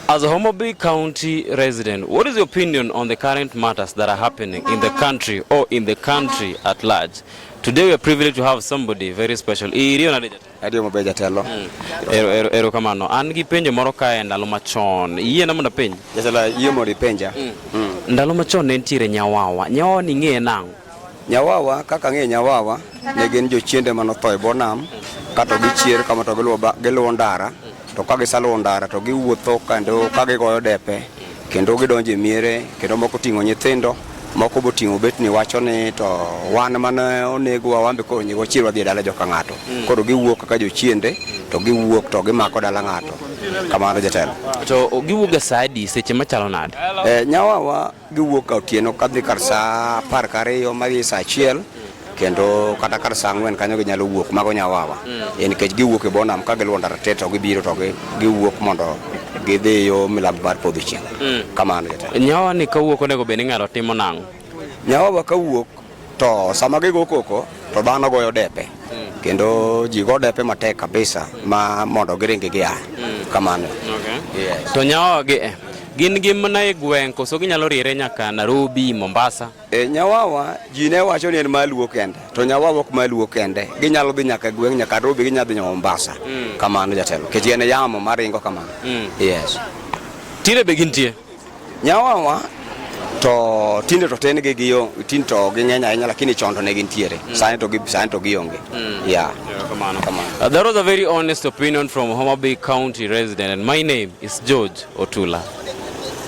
As a Homabay County resident, what is your opinion on the current matters that are happening in the country or in the country at large? Today we are privileged to have somebody very special. Irio na deja. Adio mabeja telo. Hmm. Ero ero ero kama no. An gi penjo moro ka e ndalo machon. Yie na mna penjo. Jatela yie mori penja. Hmm. Hmm. Ndalo machon ne ntiere nyawawa. Nyawawa ni ng'e nango. Nyawawa kaka ng'e nyawawa ne gin jochiende mane otho e bonam kato gichier kama to giluwo ndara to ka gisaluwo ndara to giwuotho kendo ka gigoyo depe kendo gidonjo e miere kendo moko ting'o nyithindo moko bo ting'o bet ni wacho ni to wan mane onegwa wambe koro nyego chier wadhi e dala joka ng'ato mm. koro giwuok kaka jochiende mm. to giwuok to gimako dala ng'ato kamano jatelo to giwuok ga saa adi seche machalo nade eh, nyawawa Giwuok ka otieno kadhi kar saa apar kariyo madhi saa achiel kendo kata kar saa ang'wen kanyo ginyalo wuok mago nyawawa e nikech giwuok e bonam ka giluwo ndara te to gibiro to gi- giwuok mondo gidhi yo milambo mar podho chieng' kamano jatelo Nyawa ni kawuok onego bed ni ng'ato timo nang'o? nyawawa ka wuok To sama gigo koko to dhano goyo depe mm. kendo ji go depe matek kabisa ma mondo giringi gia mm. kamano. Okay. Yes. To nyawa gi eh. Gin gi mana e gweng' koso ginyalo riere nyaka Nairobi, Mombasa? E, nyawawa ji ne wacho ni en maluo kende to nyawawa ok maluo kende ginyalo dhi nyaka e gweng' nyaka Nairobi ginyalo dhi nyaka Mombasa mm. kamano jatelo kech en yamo maringo kamano mm. yes. Tire be gintie? Nyawawa to tinde to tin gi giyo tin to gi ng'eny ahinya lakini chon to ne gintiere mm. sani to gi sani to gionge mm. yeah kamano kamano uh, that was a very honest opinion from Homa Bay County resident and my name is George Otula